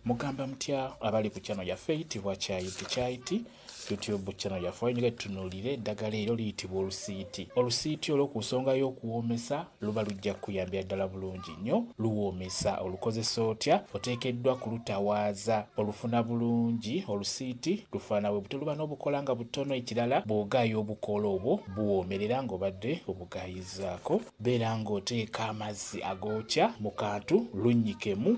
Mugamba mutya abali ku channel yaffe eyitibwa Kyayiti Kyayiti YouTube channel yaffe wayingira tunuulire eddagala eryo liyitibwa olusiiti. Olusiiti olwo ku nsonga y'okuwoomesa luba lujja kukuyambira ddala bulungi nnyo. Luwoomesa olukozesa otya? Oteekeddwa kulutawaaza olufuna bulungi. Olusiiti lufaana bwe butyo, luba n'obukoola nga butono. Ekirala bw'ogaaya obukoola obwo buwoomerera ng'obadde obugaayizzaako. Beera ng'oteeka amazzi agookya mu kantu lunnyikemu.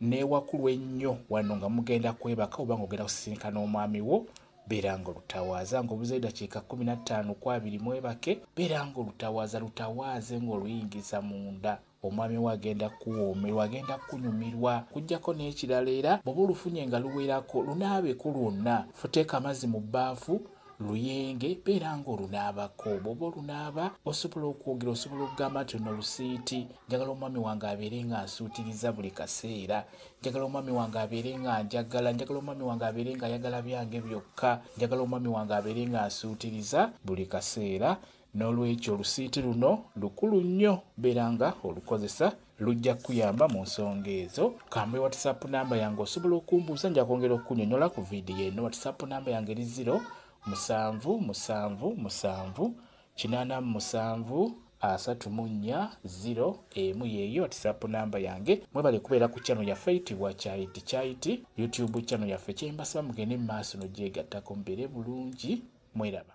Newakulu ennyo wano nga mugenda kwebaka oba nga ogenda kusisinkana omwami wo beera nga olutawaaza nga obuzeyo dakiika kumi na ttaano ku abiri mwebake beera nga olutawaaza lutawaaze nga oluyingiza munda omwami wo agenda kuwoomerwa agenda kunyumirwa kujjako n'ekirala era bwoba olufunye nga luwerako lunaabeko lwonna futeeka amazzi mu bbaafu luyenge beera nga olunaabako bwoba olunaaba osobola okwogera osobola okugamba nti ono lusiiti njagala omwami wange abeere nga nsuutiriza buli kaseera njagala omwami wange abeere nga njagala njagala omwami wange abeere nga ayagala byange byokka njagala omwami wange abeere nga nsuutiriza buli kaseera N'olwekyo olusiiti luno lukulu nnyo beera nga olukozesa lujja kukuyamba mu nsonga ezo. Kambe whatsapp namba yange osobola okumbuuza nja kwongera okukunyonyola ku vidiyo eno. Whatsapp namba yange eri ziro musanvu musanvu musanvu kinaana mu musanvu asatu mu nnya ziro emu yeeyo whatsapp namba yange mwebale kubeera ku channel yaffe eyitibwa kyayiti kyayiti youtube channel yaffe kyembasaba mugende mu maaso nogyegattako mubeere bulungi mweraba